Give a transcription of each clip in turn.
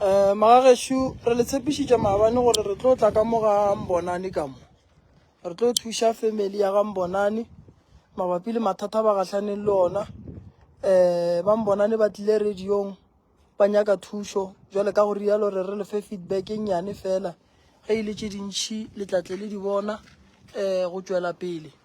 um magagešu re le tshepišitša maabane gore re tlo tla ka mo ga mbonane ka mo re tlo thuša family ya ga mbonane mabapi le mathata ba gatlhaneng le ona um ba mbonane ba tlile radiong ba nyaka thušo jwale ka go rialo re re lefe feedback e nnyane fela ge e le tše dintšhi letlatle le di bona um go tšwela pele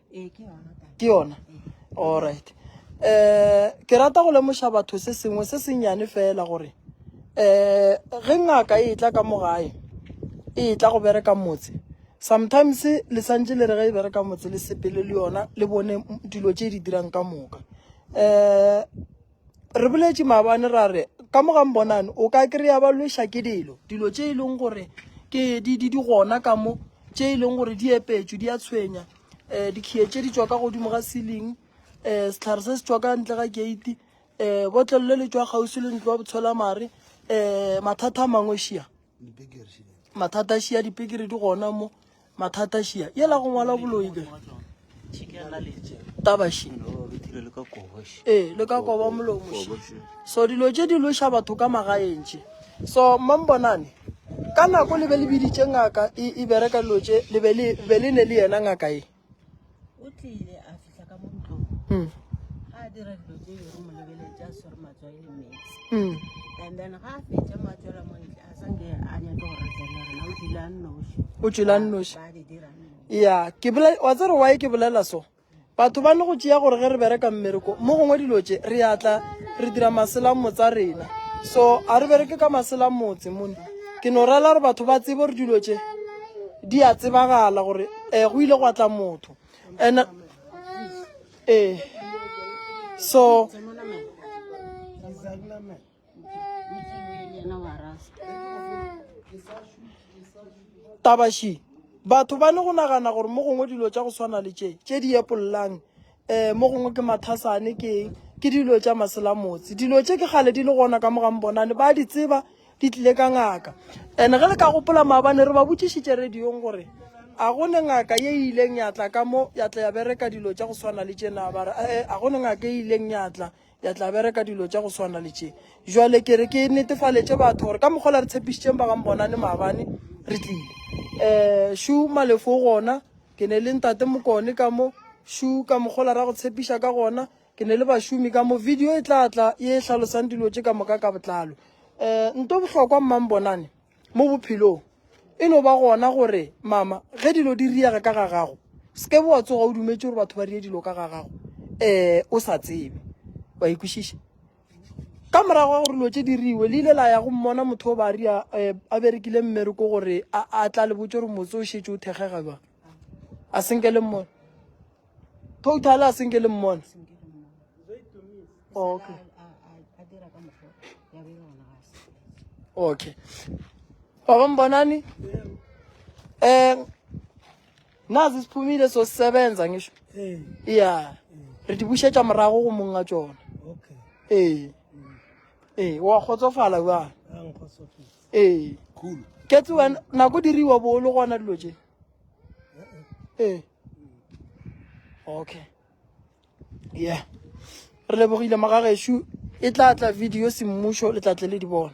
ke yona alright um ke rata go lemoša batho se sengwe se sennyane fela gore um ge ngaka e tla ka mogae e tla go bereka motse sometimes le santse le re ge e bereka motse le sepele le yona le bone dilo tse di dirang ka moka um re boletše maabane ra re ka mogang bonane o ka kry-a ba lweša ke dilo dilo tše e leng gore ke di di di gona ka mo tše e leng gore di epetšwe di a tshwenya um dikgie tše di tswa ka godimo ga sealing um setlhare se se tswa ka ntle ga gate um botlelelo le tswa kgausi le ntlo wa botshola mare um mathata a mangwe šia mathata a šia dipekere di gona mo mathata šia yela go ngwala boloi ke tabaši ee le ka koba molomo so dilo tše di loša batho ka magaeng tše so mambonane ka nako le be le biditše ngaka e, e bereka dilo tše le be le ne le yena ngaka e o tlile a fihla ka mo ntlong mm. ga a dira dilo tse yore mo lebeletse a swere matswai le metsi mm. and then ga a fetsa mo a tswela mo ntle a sanke a nyake go ratela rena o tswile a nnoši o tswile a nnoši ya ke wa tsere wae ke bolela so batho ba ne go tšea gore ge re bereka mmereko mo gongwe dilo tse re atla re dira maselang motsa rena so a re bereke ka maselang motse mone ke no rela gore batho ba tsebe gore dilo tse di a tsebagala gore eh go ile gwa tla motho and eh so tabashi batho ba ne go nagana gore mo gongwe dilo tša go swana le tše tše di epollang um mo gongwe ke mathasane ke eng ke dilo tša maselamotse dilo tše ke gale di le gona ka mogang bonane ba di tseba di tlile ka ngaka and ge le ka gopola maabane re ba botšišitše radiong gore a go ne ngaka ye e ileng ya tla ka mo ya tla ya bereka dilo tša go swana le tšena ba re ee a go ne ngaka e ileng ya tla ya tla bereka dilo tša go swana le tše jwale ke re ke netefaletše batho gore ka mokgola re tshepišitšeng ba gam bonane maabane re tlile um shu malefo gona ke ne le ntate mokone ka mo shu ka mokgola ra go tshepiša ka gona ke ne le bašomi ka mo video e tla tla e hlalosang dilo tše ka moka ka botlalo um nto bohlokwa mmang bonane Mo bophelong, e no ba gona gore, Mama, ge dilo di riega ka ga gago, se ke be wa tsoga o dumetše gore batho ba rie dilo ka ga gago um o sa tsebe. Wa e kwešiša? Ka morago ga gore dilo tše di riwe, le ile la ya go mmona motho o ba ria um a berekile mmereko gore a tla le botse gore motse o šetše o thekgega jwang. A se nke le mmona? Total a senke le mmona. Oh, okay. Okay. Baba mbonani? Eh nazi siphumile so sisebenza ngisho. Eh. Yeah. Re di bushetsa morago go monga tsona. Okay. Eh. Eh, wa kgotsofala ba. Ang kgotsofala. Eh. Cool. Ke tsoa na go diriwa bo lo gona dilo tse. ee okay yeah re lebogile magagešu e tla tla video semmušo le tla tle le di bona